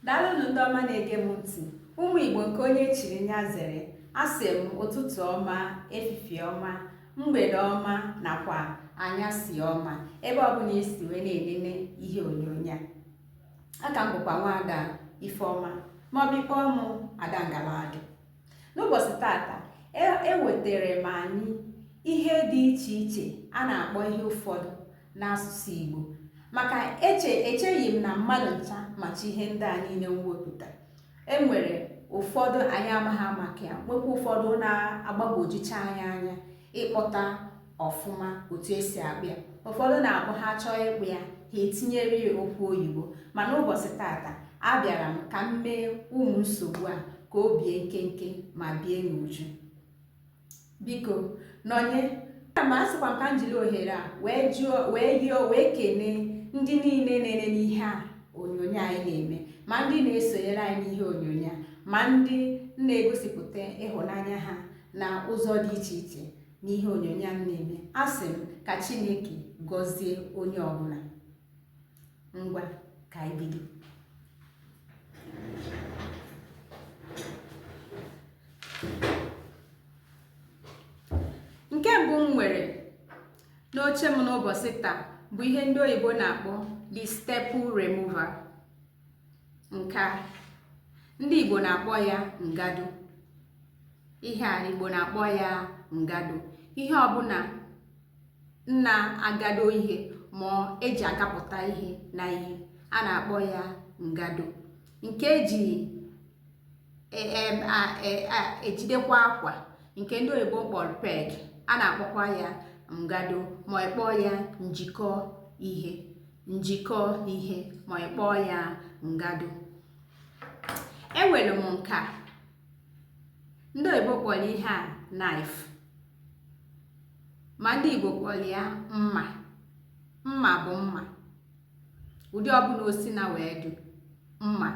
daalụnụ ndị ọma na-ege m ntị ụmụ igbo nke onye chiri nya zere asị m ụtụtụ ọma efifie ọma mgbede ọma nakwa anyasị ọma ebe ọbụla esi wee na-enene ihe onyonyo a aka m bụkwa nwaada ifeọma maọbụ ị kpọọ mụ ada ngaladụ n'ụbọchị tata ewetara m anyị ihe dị iche iche a na-akpọ ihe ụfọdụ n'asụsụ Igbo maka eche echeghị m na mmadụ ncha macha ihe ndị a niile m wepụta e nwere ụfọdụ anyị amaghị maka ya nwekwa ụfọdụ na-agbagwojucha anyị anya ịkpọta ọfụma otu esi akpọ ya ụfọdụ na-akpọ ha chọọ ịkpọ ya ha etinyere ya okwu oyibo mana ụbọchị tata abịara m ka m mee ụmụ nsogbu a ka o bie nkenke ma bie n'uju biko nọnye ma a sịkwa m ka m jiri ohere a wee kenee ndị niile na-enene ihe a onyonyo anyị na-eme ma ndị na-esonyere anyị n'ihe onyonyo a ma ndị na-egosipụta ịhụnanya ha na ụzọ dị iche iche n'ihe onyonyo a na-eme asị m ka chineke gọzie onye ọbụla ngwa ka anyị bido nke mbụ m nwere n'oche m n'ụbọchị taa bụ ihe ndị oyibo na-akpọ the staple remover nke a ndị Igbo na-akpọ ya ngado ihe a ndị Igbo na-akpọ ya ngado ihe ọbụla na-agado ihe ma eji agapụta ihe na ihe a na-akpọ ya ngado nke eji ejidekwa akwa nke ndị oyibo kpọrọ peg a na-akpọkwa ya ngado ma ị kpọọ ya njikọ ihe njikọ ihe ma ị kpọọ ya ngado enwere m nke a ndị oyibo kpọrọ ihe a knife ma ndị igbo kpọrọ ya mma mma bụ mma ụdị ọbụla osi na wee dị mma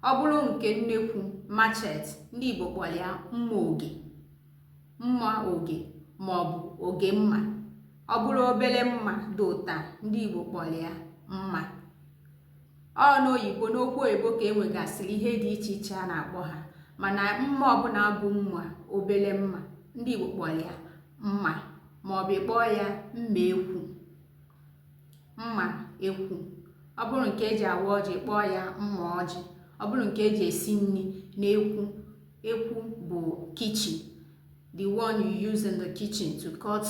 ọ bụrụ nke nnekwu machete ndị igbo kpọrọ ya mma oge mma oge maọbụ oge mma ọ bụrụ obere mma dị ụta ndị Igbo kpọrọ ya mma ọ n'oyibo n'okwu oyibo ka e nwegasịrị ihe dị iche iche a na-akpọ ha mana mma ọbụla bụ mma obere mma ndị Igbo kpọrọ ya mma maọbụ ị kpọọ ya mma ekwu mma ekwu ọ bụrụ nke eji awa ọjị ị kpọọ ya mma ọjị ọ bụrụ nke eji esi nri n'ekwu ekwu bụ kitchen the one you use in the kitchen to cut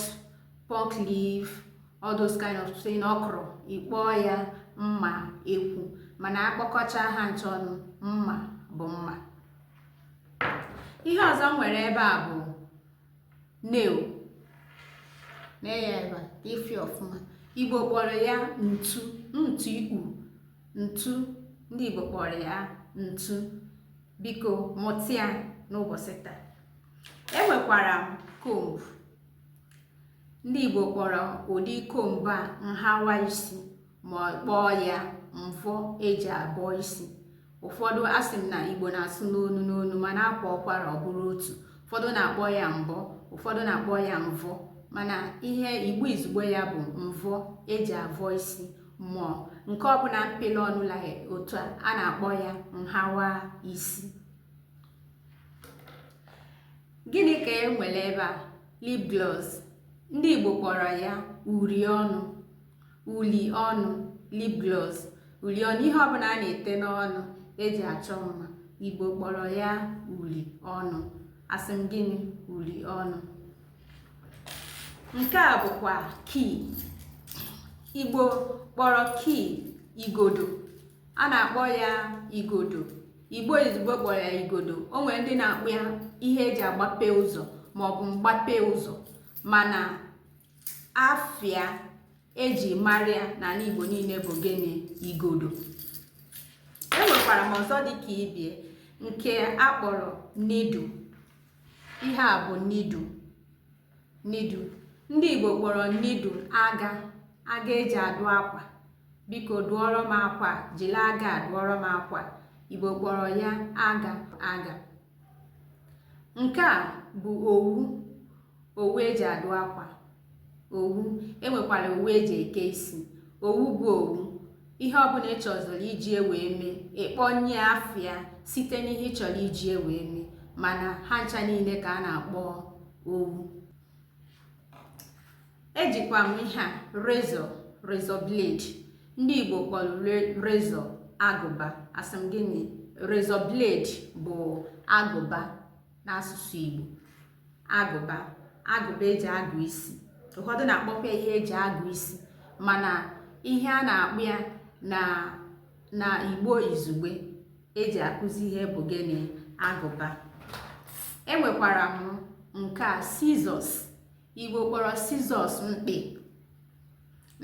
pumpkin leaf all those kind of thing okra ị kpọọ ya mma ekwu mana akpọkọcha ha ncha ọnụ mma bụ mma ihe ọzọ m nwere ebe a bụ nail nee ya ebe a ka ị fụ ya ọfụma igbo kpọrọ ya ntu ntu ikpu ntu ndị igbo kpọrọ ya ntu biko mụta ya n'ụbọchị taa enwekwara m comb ndị Igbo kpọrọ ụdị comb a nhawa isi ma kpọọ ya mvọ eji abọ isi ụfọdụ asị m na Igbo na-asụ n'onu n'onu mana a kwaa ụkwara ọ bụrụ otu ụfọdụ na-akpọ ya mbọ ụfọdụ na-akpọ ya mvọ mana ihe Igbo izugbo ya bụ mvọ eji avọ isi ma nke ọbụla mpele ọnụ la otu a a na-akpọ ya nhawa isi gịnị ka e nwere ebe a lip gloss ndị Igbo kpọrọ ya uri ọnụ uli ọnụ lip gloss uli ọnụ ihe ọbụla a na-ete n'ọnụ eji achọ mma Igbo kpọrọ ya uli ọnụ asị m gịnị uli ọnụ nke a bụkwa key igbo kpọrọ key igodo a na-akpọ ya igodo igbo izugbo kpọrọ ya igodo o nwere ndị na-akpọ ya ihe eji agbape ụzọ maọbụ mgbape ụzọ mana afa ya eji mara ya n'ala igbo niile bụ gịnị igodo enwekwara m ọzọ dịka ibe ya nke akpọrọ needle ihe a bụ needle needle ndị igbo kpọrọ needle aga aga eji adụ akwa biko dụọrọ m akwa jiri aga dụọrọ m akwa igbo kpọrọ ya aga aga nke a bụ owu owu eji adụ akwa owu enwekwara owu eji eke isi owu bụ owu ihe ọbụla ị chọziri iji ewe eme ị kpọnye afa ya site n'ihe ị chọrọ iji ewe eme mana ha ncha niile ka a na-akpọ owu ejikwa m ihe a razor razor blade ndị Igbo kpọrọ razor agụba asị m gịnị razor blade bụ agụba n'asụsụ Igbo agụba agụba eji agụ isi ụfọdụ na-akpọkwa ihe eji agụ isi mana ihe a na-akpọ ya na igbo izugbe eji akụzi ihe bụ gịnị agụba enwekwara m nke a scissors igbo kpọrọ scissors mkpị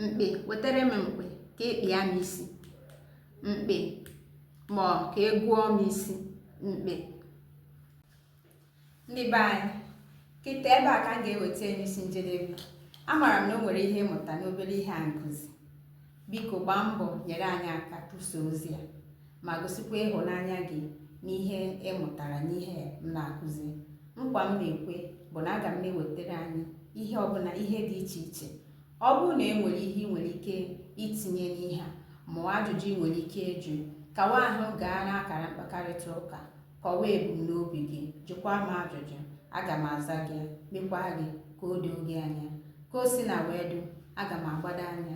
mkpị wetara m mkpị ka ị kpịa m isi mkpị ma ka egwuo m isi mkpị ndị be anyị kịta ebe a ka m ga-eweta ya n'isi njedebe amaara m na o nwere ihe ị mụta n'obere ihe anyị kụzi biko gbaa mbọ nyere anyị aka kwusa ozi a ma gosikwa ịhụnanya gị n'ihe ị mụtara n'ihe m na-akụzi nkwa m na-ekwe bụ na aga m na-ewetara anyị ihe ọbụla ihe dị iche iche ọ bụrụ na e nwere ihe ị nwere ike itinye n'ihe a ma ajụjụ ị nwere ike ịjụ kawa ahụ gaa n'akara mkpakọrịta ụka Kọwaa ebumnobi gị, jụkwaa m ajụjụ, aga m aza gị, mekwa gị ka o doo gị anya. Ka o sina wee dị, aga m agbado anya.